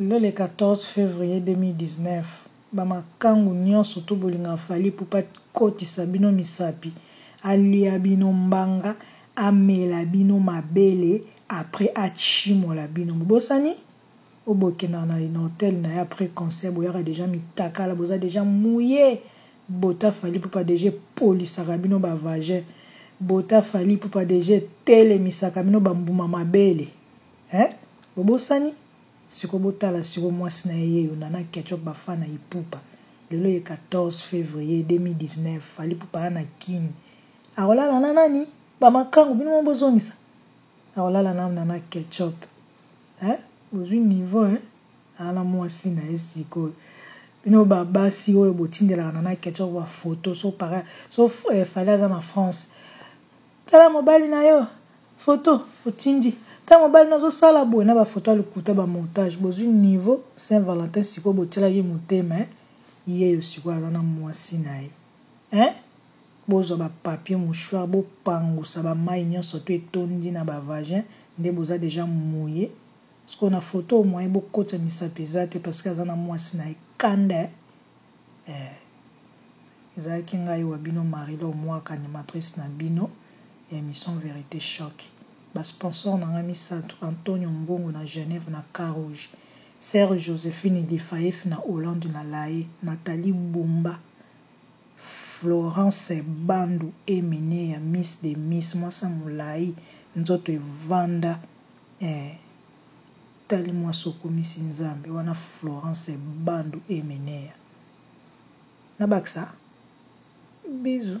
Lelo le 14 fevrier 2019 ba makangu nionso to bolinga Fally Ipupa kotisa bino misapi alia bino mbanga amela bino mabele après atshimola bino bobosani? Oyo bokendaka na na hotel naye après concert boyaka dejà mitakala boza dejà mouille bota Fally Ipupa dejà epolisaka bino ba vagin bota Fally Ipupa dejà etelemisaka bino ba mbuma mabele. Hein bobosani? Sikoyo botala sikoyo mwasi na ye yeyo nana ketchup ba fan na ipupa lelo ye 14 fevrier 2019 fally ipupa aya na kin akolala na nani? ba makangu bino moko bozongisa akolala na nana ketchup hein bozui niveau hein aya na mwasi na ye sikoyo bino ba basi oyo botindelaka nana ketchup ba photo so para so fally aza na France tala mobali na yo Photo otindi ta mobali no azo sala boye na ba photo ya lokuta ba montage bozui niveau saint valentin sikoyo botielaki motema hein yeyo sikoyo aza na muasi na ye hein bozua ba papier mouchoir bo pangusa ba mayi nionso to etondi na ba vagin nde boza deja mouille sikoyo na photo oyo moyen bokotisa misapi eza te parce que aza na muasi na ye kanda hein. Eeh ezalaki ngai wa bino Marie Laure Mwaka animatrice na bino ya emission verite choc ba sponsors na ngai misatu Antonio Mbungu na Genève na Cas Rouge Sœur Josephine Difaif na Hollande na Lae Nathalie Bumba Florence Bandu Eminie ya Miss des Miss mwasi ya molayi nzoto evanda eeh. tali mwasi okumisi nzambe wana florence bandu emeneya na bakisa bisous.